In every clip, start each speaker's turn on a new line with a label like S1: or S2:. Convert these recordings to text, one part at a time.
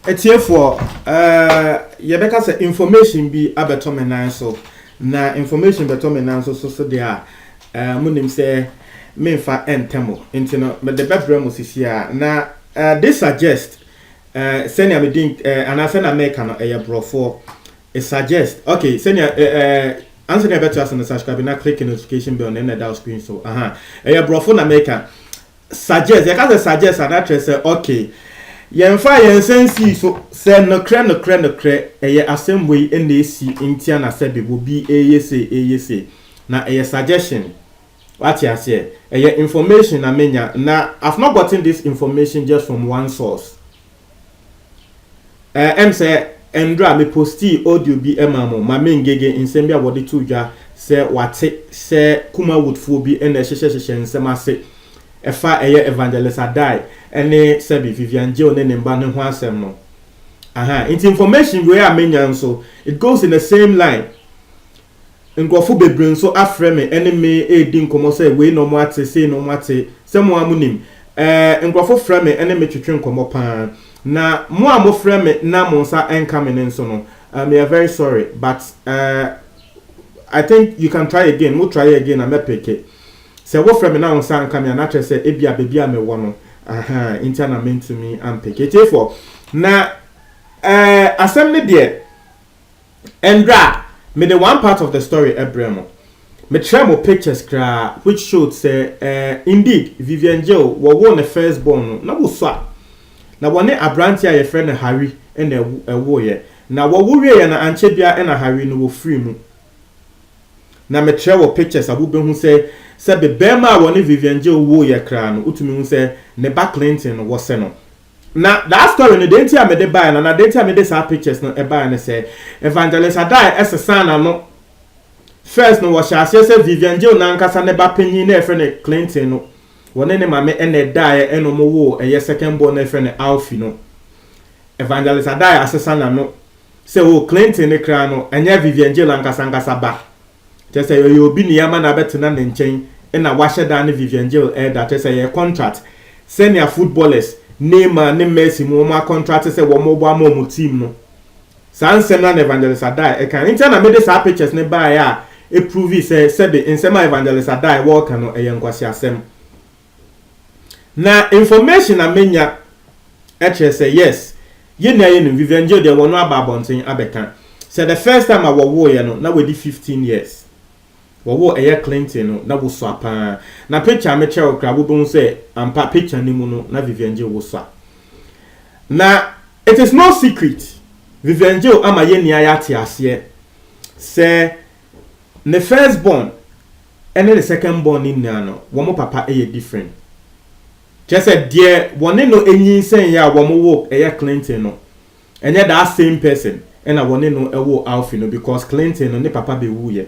S1: atiefoɔ eh, yɛbɛka sɛ information bi abɛtɔ me nan so na information bɛtɔ me nan so so so deɛ a eh, monim sɛ memfa ɛntɛ mo nti no mede bɛbrɛ mo sisi a na eh, this suggest sɛnea medin anaasɛ na meka no ɛyɛ borɔfoɔ It suggest okay sɛnea eh eh ansa na ɛbɛto ase no subscribe na click notification bell na ɛna ɛda screen so aha ɛyɛ borɔfo na meka suggest yɛka sɛ suggest a na kyerɛ sɛ okay yɛmfa yɛn nsa nsii so sɛ nokorɛ nokorɛ nokorɛ ɛyɛ asɛm wei ɛna ɛsi ntia na sɛ bebo bi ɛyɛ sei ɛyɛ sei na ɛyɛ suggestion wate aseɛ ɛyɛ information na menya na I've not gotten this information just from one source Eh, ɛm sɛ ɛndora me postii audio bi ɛmaa mo ma me ngege nsɛm bi a wɔde too dwa sɛ wate sɛ Kumawoodfoɔ bi na ɛhyehyɛ hyehyɛ nsɛm ase ɛfa ɛyɛ Evangelist Addae ɛne sɛbi Vivian Jill ne ne mba no ho asɛm no. Ahaa, nti information wei a menya nso it goes in the same line. Nkurɔfo bebree nso afrɛ me ne me redi nkɔmmɔ sɛ wei na wɔate, sei na wɔate. Sɛ mo ara munim, ɛɛ, nkurɔfo frɛ me ne me twetwe nkɔmmɔ pa ara. Na mo a mofrɛ me na mo nsa nka me no nso no, meyɛ very sorry, but ɛɛ, I think you can try again, mo try again a mɛpeke. Sɛ wofrɛ me na wo nsa nka me a, na kyerɛ sɛ ebia baabi a mewɔ no, ahaa, nti a na mentumi ampeke. Atiefoɔ, na ɛɛ, asɛm no deɛ, Ndɛ a, mede one part of the story brɛ mo. Mekyerɛɛ mo pictures koraa which showed sɛ eh, indeed, Vivian Jill, wɔwoo ne first born no, na wosua. Na wɔne aberanteɛ a yɛfrɛ no Harry na ɛwoeɛ. Na wɔwo wieeɛ no, ankyɛ biara na Harry no, wɔfirii mu. Na mekyerɛ wɔ pictures a wobɛhu sɛ, sɛbe barima a wɔne Vivian Jill woeɛ koraa no, wotumi hu sɛ ne ba Clinton no, wɔsɛ no. Na daa story no deɛ nti a mede baeɛ no anaa deɛ nti a mede saa pictures no baeɛ ne sɛ Evangelist Addae sesaa n'ano. First no wɔhyɛɛ aseɛ sɛ Vivian Gill n'ankasa ne ba panin no a yɛfrɛ no Clinton no wɔne ne maame na ɛdaeɛ ɛna wɔn woo ɛyɛ second born no a yɛfrɛ no Alfie no. Evangelist Addae asesa n'ano sɛ oh Clinton no koraa no ɛnyɛ Vivian Gill ankasa ankasa ba. kyerɛ sɛ ɔyɛ obi na yɛama no abɛtena ne nkyɛn na wahyɛ da ne Vivian Gil ɛda, kyerɛ sɛ ɛyɛ contract sɛnea footballers, Neymar ne Messi mu wɔn akɔntrate sɛ wɔn rebɔ ama wɔn team no. Saa nsɛm no ara na Evangelist Addae ɛkae. Nti na mede saa pictures no baeɛ a ɛprovii sɛ sɛbe nsɛm a Evangelist Addae wɔreka no ɛyɛ nkwaseasɛm. Na information a menya kyerɛ sɛ yes yɛn nua yɛnim Vivian Geo deɛ wɔno aba abɔnten abɛka sɛ the first time a wɔwoeɛ no na wadi 15 years wɔwoo ɛyɛ Clinton no na wosua paa na picture a mekyerɛ wo koraa wobɛhu sɛ ampa picture no mu no na Vivian Geo wosua na it is no secret Vivian Geo ama yɛn nua yɛate aseɛ sɛ Me first born ne ne second born no nyinaa no wɔn papa yɛ different. Kyerɛ sɛ deɛ wɔne no nyinsɛn a wɔn wo ɛyɛ Clinton no ɛnyɛ that same person ɛna wɔne no ɛwo Alfie no because Clinton no ne papa bɛwuiɛ.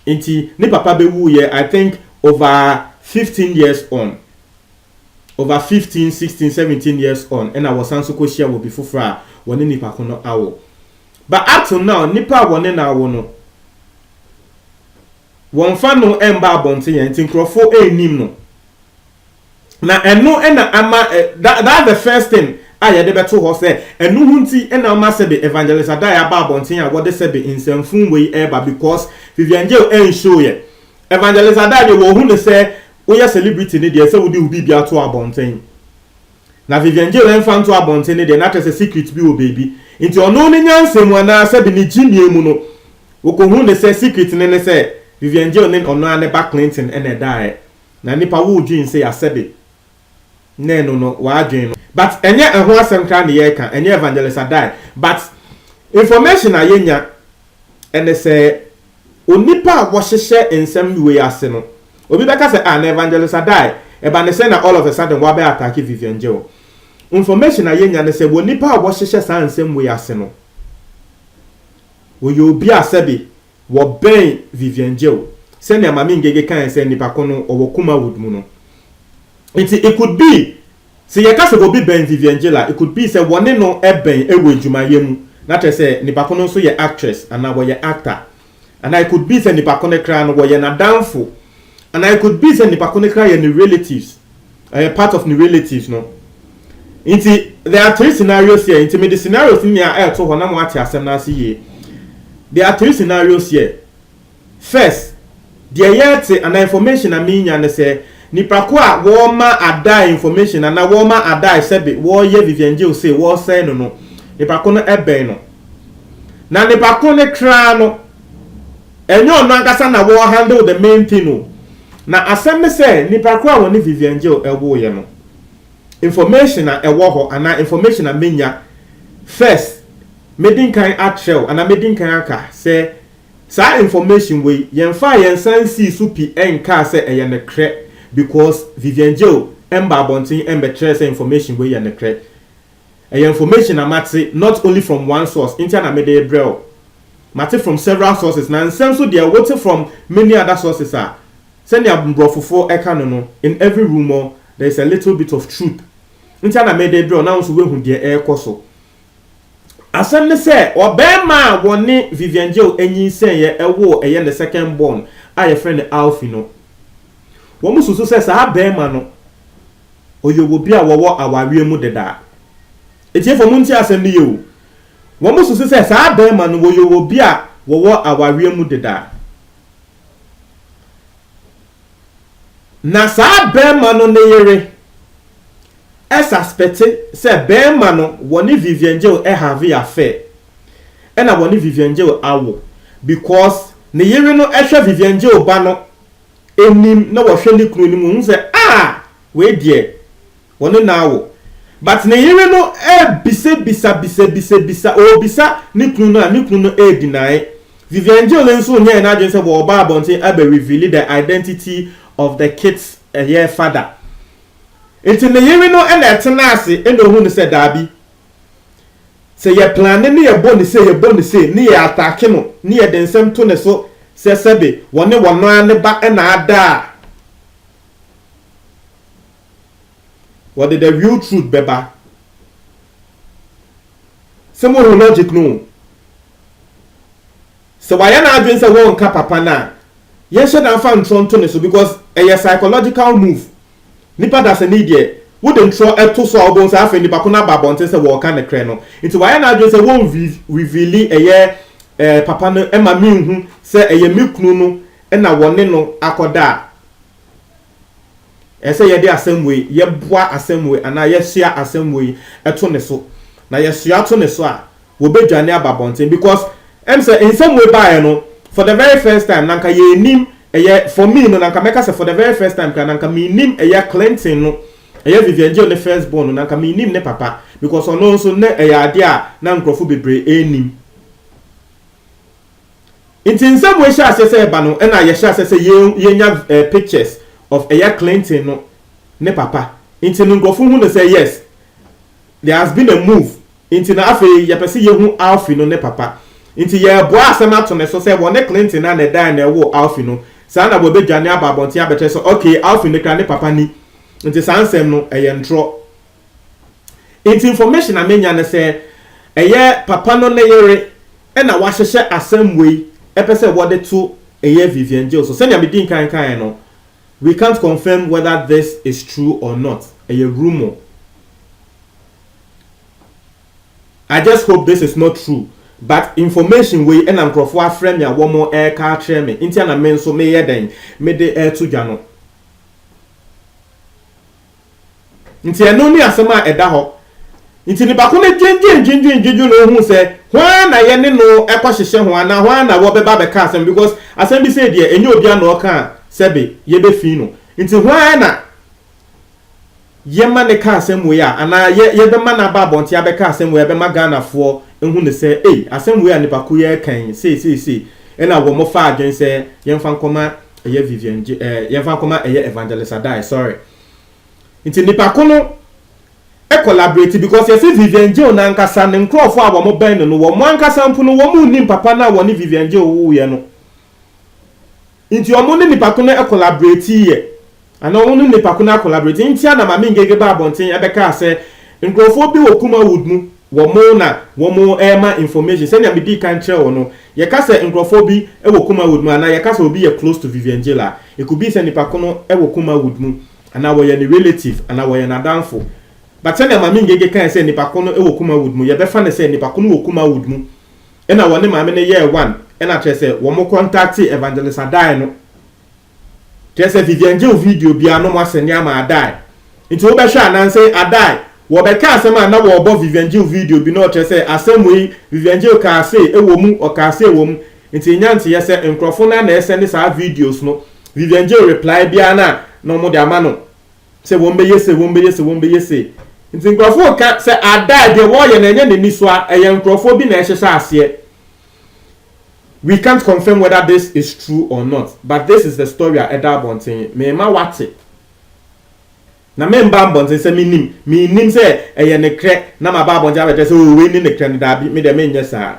S1: Nti ne papa bɛwuiɛ I think over fifteen years on over fifteen, sixteen, seventeen years on ɛna wɔsan so kɔhyia wɔ bi foforɔ a wɔne nipa ko no awo. But up to now nnipa a wɔne no awo no wɔmfa no mba abɔnten ɛ nti nkurɔfo nnim no. Na ɛno na ama ɛ that that's the first thing a yɛde bɛto hɔ sɛ ɛno ho nti na ama sɛbe Evangelist Adai aba abɔnten a wɔde sɛbe nsɛmfun wei reba because Vivian Jail ɛnhyew yɛ. Evangelist Adai deɛ wɔhu no sɛ woyɛ celebrity no deɛ ɛsɛ wode wo biribi ato abɔnten. Na Vivian Gill mfa nto abɔnten no deɛ na kyerɛ sɛ secret bi wɔ baabi nti ɔno ne nyansa mu anaa sɛbi ne gyimie mu no wɔkɔhuu no sɛ secret no ne sɛ Vivian Gill ne ɔno ara ne ba Clinton na ɛdaeɛ na nnipa woo dwen sei a sɛbi ne ɛno no w'adwen no but ɛnyɛ ɛho asɛm koraa na yɛreka ɛnyɛ Evangelist Addae but information a yɛnya ɛne sɛ Onipa a wɔhyehyɛ nsɛm wei ase no, obi bɛka sɛ ah na Evangelist Addae, ɛba ne sɛn na all of a sudden woabɛ attack Vivian Geo. Information a yɛnya ne sɛ wɔ nipa a wɔhyehyɛ saa nsɛm wei ase no, ɔyɛ obi a sɛbe wɔbɛn Vivian Geo, sɛnea Mame Ngege kaeɛ sɛ nipa ko no ɔwɔ Kumawood mu no. Nti it could be Sɛ yɛka sɛ obi bɛn Vivian Gill a, it could be sɛ wɔne no bɛn wɔ adwumayɛ mu, na kyerɛ sɛ nipa ko no nso yɛ actress anaa wɔyɛ actor. Anaa it could be sɛ nipa ko no koraa no wɔyɛ n'adamfo. Anaa it could be sɛ nipa ko no koraa yɛ ne relatives, ɔyɛ part of ne relatives no. Nti, there are three scenarios here. Nti mede scenarios no nyinaa ɛreto hɔ na moate asɛm no ase yie. There are three scenarios here. First, deɛ yɛte anaa information a menya ne sɛ nipa ko a wɔma Addae information anaa wɔma Addae sɛbe wɔyɛ Vivian Geo sei wɔsɛe no no nipa ko no bɛn no. Na nipa ko no kraa no ɛnyɛ ɔno ankasa na wɔ handle the main thing o. Na asɛm ne sɛ nipa ko a wɔne Vivian Geo ɛwoeɛ no information a ɛwɔ hɔ anaa information a menya first mɛdi nkan akyerɛw anaa mɛdi nkan aka sɛ Saa information wei yɛnfaa yɛn nsa nsii so pi nkaa sɛ ɛyɛ nokrɛ because Vivian Geo mmaa abɔnten mbɛkyerɛɛ sɛ information wei yɛ nokrɛ. Ɛyɛ information a mate not only from one source ntia na mede rebrɛ wo. Mate from several sources na nsɛm nso deɛ wote from many other sources a sɛnea mborɔfofoɔ ɛka no no in every rumour there is a little bit of truth ntia na mede rebrɛ wo na wo nso woahu deɛ ɛrekɔ so. Asɛm ne sɛ, ɔbarima a wɔne Vivian Jeo nyinsɛneeɛ woo ɛyɛ ne second born a wɔfrɛ no Alfie no, wɔsusu sɛ saa barima no, ɔyɛ obi a wɔwɔ awareɛ mu deda. Atiefo montie asɛm no yie o, wɔsusu sɛ saa barima no, ɔyɛ obi a wɔwɔ awareɛ mu deda. Na saa barima no ne yere suspɛte sɛ barima no wɔne Vivian Jeo have affair ɛna wɔne Vivian Jeo awo because ne yere no hwɛ Vivian Jeo ba no anim na wɔhwɛ ne kunu anim wɔhu sɛ ah wei deɛ Wɔne no awo. But ne yere no rebisa bisa bisa bisa bisa ɔrebisa ne kunu no a ne kunu no redeny. Vivian Gill nso nyɛɛ n'adwene sɛ wɔreba abɔnten abɛ reveal the identity of the kid's ɛyɛ father. Nti ne yere no na ɛtena ase na ɔhu no sɛ daabi sɛ yɛ plane ne yɛbɔ no sei yɛbɔ no sei ne yɛ attack no ne yɛde nsɛm to ne so sɛ sɛbe wɔne wɔn ara ne ba na ada a Wɔde the real truth bɛba. Sɛ mo ho logic no o. Sɛ wayɛ n'adwene sɛ wɔnka papa no a, yɛnhyɛ da mfa ntorɔ nto ne so because ɛyɛ psychological move. Nipa dasani deɛ, wode ntorɔ to so a wobɛhu sɛ afei nipa ko no aba abɔnten sɛ wɔreka nokorɛ no. Nti wayɛ n'adwene sɛ wɔn reveal ɛyɛ eh, papa no ma menhu sɛ ɛyɛ me kunu no na wɔne no akɔda a, Ɛsɛ sɛ yɛde asɛm wei, yɛboa asɛm wei anaa yɛsoa asɛm wei to ne so. Na yɛsoa to ne so a, wɔbɛdwane aba abɔnten because ɛm sɛ nsɛm wei baeɛ no, for the very first time na anka yɛnnim ɛyɛ, for me no na anka mɛka sɛ for the very first time koraa na anka mennim ɛyɛ Clinton no, ɛyɛ Vivian Gill ne first born no, na anka mennim ne papa because ɔno nso na ɛyɛ adeɛ a na nkurɔfo bebree nnim. Nti nsɛm wei hyɛ aseɛ sɛ ɛba no ɛna yɛhyɛ aseɛ sɛ yɛnya pictures of ɛyɛ Clinton no ne papa nti no nkurɔfo hu no sɛ yes there has been a move nti no afei yɛpɛ sɛ yɛhu Alfie no ne papa nti yɛreboa asɛm ato ne so sɛ wɔne Clinton no a na ɛdaeɛ na ɛwoo Alfie no saa na wɔbɛdwane aba abɔnten abɛkyerɛ sɛ okay Alfie no kra ne papa ni nti saa nsɛm no ɛyɛ ntorɔ Nti information a menya ne sɛ ɛyɛ papa no ne yere na wɔahyehyɛ asɛm wei pɛ sɛ wɔde to ɛyɛ Vivian Jill so. Sɛnea medii nkan kaeɛ no, we can't confirm whether this is true or not, ɛyɛ rumour. I just hope this is not true but information wei na nkurɔfoɔ afrɛ me a wɔreka akyerɛ me nti na me nso meyɛ dɛn mede reto dwa no. Nti ɛno ne asɛm a ɛda hɔ. Nti nipa ko no dwindwen dwindwen dwindwen na ohuu sɛ hwan na yɛne no kɔ hyehyɛ ho anaa hwan na wɔbɛba abɛka asɛm because asɛm bi sei deɛ ɛnyɛ obia na ɔka a sɛbe yɛbɛfii no nti hwan na yɛma no ka asɛm wei a anaa yɛ yɛbɛma no aba abɔnten abɛka asɛm wei a ɛbɛma Ghanafoɔ ahu no sɛ ei asɛm wei a nipa ko yi reka yi sei sei sei ɛna wɔn fa adwene sɛ yɛmfa nkɔma Ɛyɛ Vivian gye ɛɛ eh, yɛmfa nkɔma ɛyɛ Evangelist Adai sorry. Nti nipa ko no e collaborate because yɛsi Vivian Gye no ankasa ne nkorɔfo a wɔn bɛn no no wɔn ankasa mpo no wɔn nnim papa no a wɔne Vivian Gye wuwuiɛ no. Nti wɔn ne nipa ko no e collaborate yɛ. Ana ɔno ne nipa ko no akolaborate ntia na Maame Ngege baa abɔnten bɛkaa sɛ nkurɔfoɔ bi wɔ Kumawood mu wɔn na wɔn rema information sɛnea medii kan kyerɛɛ wo no yɛka sɛ nkurɔfoɔ bi wɔ Kumawood mu anaa yɛka sɛ obi yɛ close to Vivian Gill a it could be sɛ nipa ko no wɔ Kumawood mu anaa wɔyɛ ne relative anaa wɔyɛ n'adamfo but sɛnea Maame Ngege kae sɛ nipa ko no wɔ Kumawood mu yɛbɛfa no sɛ nipa ko no wɔ Kumawood mu ɛna wɔne maame no yɛɛ one ɛna kyerɛ sɛ wɔn kɔntakte Evangelist Adae no Kyerɛ sɛ Vivian gyew video bi ano mu asɛnneɛ ma Adae. Nti wobɛhwɛ a, nanse Adae, wɔbɛka asɛm a na wɔrebɔ Vivian gyew video bi no ɔkyerɛ sɛ asɛm wei Vivian gyew kaa sei wɔ mu, ɔkaa sei wɔ mu. Nti nya nteeɛ sɛ nkurɔfo no ara na ɛresɛnde saa videos no. Vivian gyew reply biara no a na wɔde ama no sɛ wɔbɛyɛ sei, wɔbɛyɛ sei, wɔbɛyɛ sei. Nti nkurɔfo reka sɛ Adae deɛ wɔreyɛ no ɛnyɛ n'ani so a, ɛyɛ nkurɔfoɔ bi na ɛhyehyɛ aseɛ. We can't confirm whether this is true or not but this is the story a ɛda abɔnten, Merema woate na meremba abɔnten sɛ mennim, mennim sɛ ɛyɛ nekrɛ na maba abɔnten abɛkyerɛ sɛ oo wei ne nekrɛ no, daabi, me deɛ menyɛ saa.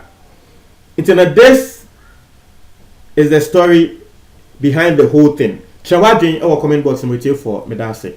S1: Nti no this is the story behind the whole thing. Kyerɛ w'adwene wɔ comment box no mu, atiefoɔ, meda ase.